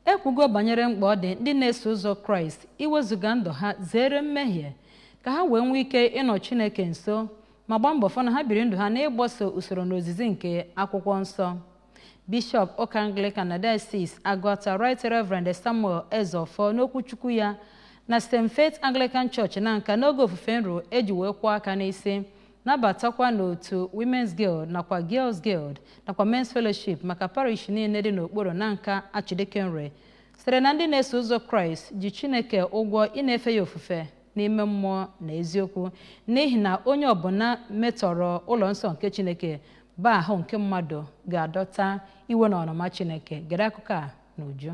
E kwugo banyere mkpa ọ dị ndị na-eso ụzọ Kraịst iwezụga ndụ ha zere mmehie ka ha wee nwee ike ịnọ Chineke nso ma gbaa mbọ fụ na ha biri ndụ ha n'ịgbaso usoro na ozizi nke akwụkwọ nsọ. Bishọp ụka Anglican na Diocese Agụata Right Reverend Samuel Ezeofor n'okwuchukwu ya na St. Faith Anglican Church Nanka n'oge ofufe nru e ji wee kwụọ aka n'isi nabatakwa n'otu Women's Guild nakwa Girls Guild nakwa Men's Fellowship maka parish niile dị n'okpuru Nanka Archdeaconry sịrị na ndị na-eso ụzọ Kraịst ji Chineke ụgwọ ịna-efe ya ofufe n'ime mmụọ na eziokwu n'ihi na onye ọbụla metọrọ ụlọ nsọ nke Chineke bụ ahụ nke mmadụ ga-adọta iwe na ọnụma Chineke gere akụkọ a n'uju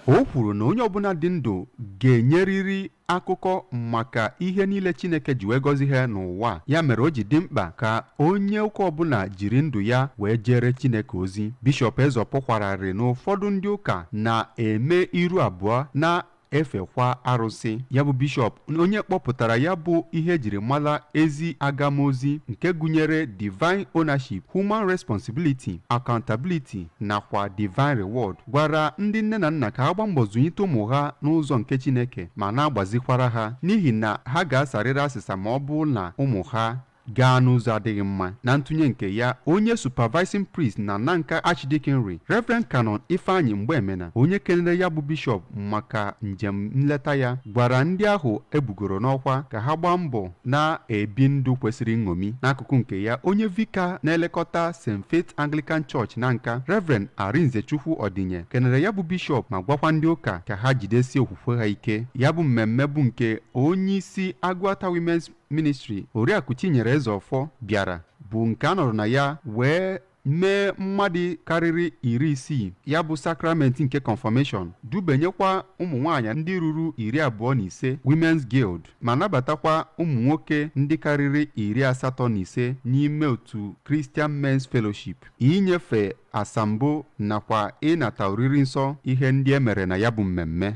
o kwuru na onye ọbụla dị ndụ ga-enyerịrị akụkọ maka ihe niile chineke ji wee gọzie ha n'ụwa ya mere o ji dị mkpa ka onye ụka ọbụla jiri ndụ ya wee jere chineke ozi bishọp Ezeofor kwara arịrị na ụfọdụ ndị ụka na-eme iru abụọ na efekwa arụsị ya bụ bishọp onye kpọpụtara ya bụ ihe e jiri mala ezi agamozi nke gụnyere divine ownership human responsibility accountability nakwa divine reward gwara ndị nne na nna ka ha gbaa mbọ zụnyite ụmụ ha n'ụzọ nke chineke ma na-agbazikwara ha n'ihi na ha ga-asarịrị asịsa ma ọ bụrụ na ụmụ ha gaa n'ụzọ adịghị mma na ntụnye nke ya onye supervising priest na nanka archdeaconry reverend canon ifeanyi mgbemena onye kelere ya bụ bishọp maka njem nleta ya gwara ndị ahụ e bugoro n'ọkwa ka ha gbaa mbọ na-ebi ndụ kwesịrị nṅomi n'akụkụ nke ya onye vika na-elekọta st faith anglican church nanka reverend arinzechukwu ọdịnye kelere ya bụ bishọp ma gwakwa ndị ụka ka ha jidesie okwukwe ha ike ya bụ mmemme bụ nke onye isi agụata women's ministri oriakụ Chinyere Ezeofor bịara bụ nke a nọrọ na ya wee mee mmadụ karịrị iri isii ya bụ sakramenti nke confirmation dubenyekwa ụmụ nwaanyị ndị ruru iri abụọ na ise Women's Guild ma nabatakwa ụmụ nwoke ndị karịrị iri asatọ na ise n'ime otu Christian Men's Fellowship inyefe asambo nakwa ịnata oriri nsọ ihe ndị e mere na ya bụ mmemme